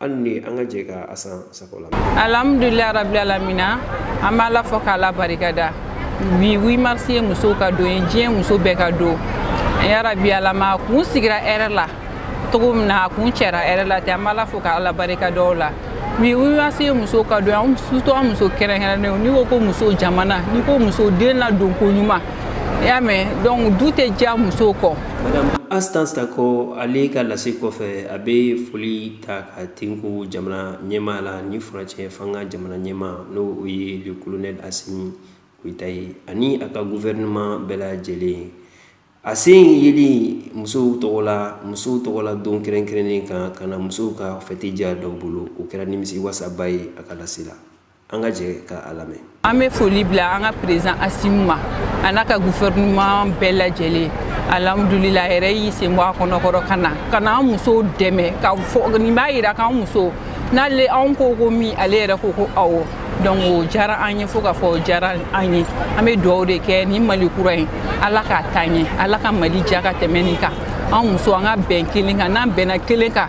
hali ni an ka jɛ ka astan sako la alhamdulilayi rabi alamina an b'ala fo k'ala barika da bi 8 mars ye musow ka don ye diɲɛ muso bɛɛ ka don ya rabi ala m'a kun sigira hɛrɛ la cogo min na a kuncɛra hɛrɛ la ten an b'ala fo k'ala barika da o la bi 8 mars ye muso ka don an surtout an muso kɛrɛnkɛrɛnnenw n'i ko ko muso jamana n'i ko muso den ladonko ɲuman i y'a mɛn donc du tɛ diya muso kɔ madame astan sako ale ka lase kɔfɛ a bɛ foli ta ka tenku jamana ɲɛmaa la ni furancɛ fanga jamana ɲɛmaa n'o ye le kolonɛli asimi goyita ye ani a ka gufɛrɛnaman bɛɛ lajɛlen a sen yeli musow tɔgɔ la musow tɔgɔ la don kɛrɛnkɛrɛnnen kan ka na musow ka fɛti diya dɔw bolo o kɛra nimisiwasaba ye a ka lase la an ka jɛ ka a lamɛn an bɛ foli bila an ka perezan asimi ma a n'a ka gufɛrɛnaman bɛɛ lajɛlen alhamdulila yɛrɛ y'i sen bɔ a kɔnɔkɔrɔ ka na ka na an musow dɛmɛ ka fɔ nin b'a yira k'an muso n'ale anw ko ko min ale yɛrɛ ko ko awɔ donc o diyara an ye fo k'a fɔ o diyara an ye an bɛ dugawu de kɛ nin mali kura ye ala k'a taa ɲɛ ala ka mali diya ka tɛmɛ nin kan an muso an ka bɛn kelen kan n'an bɛnna kelen kan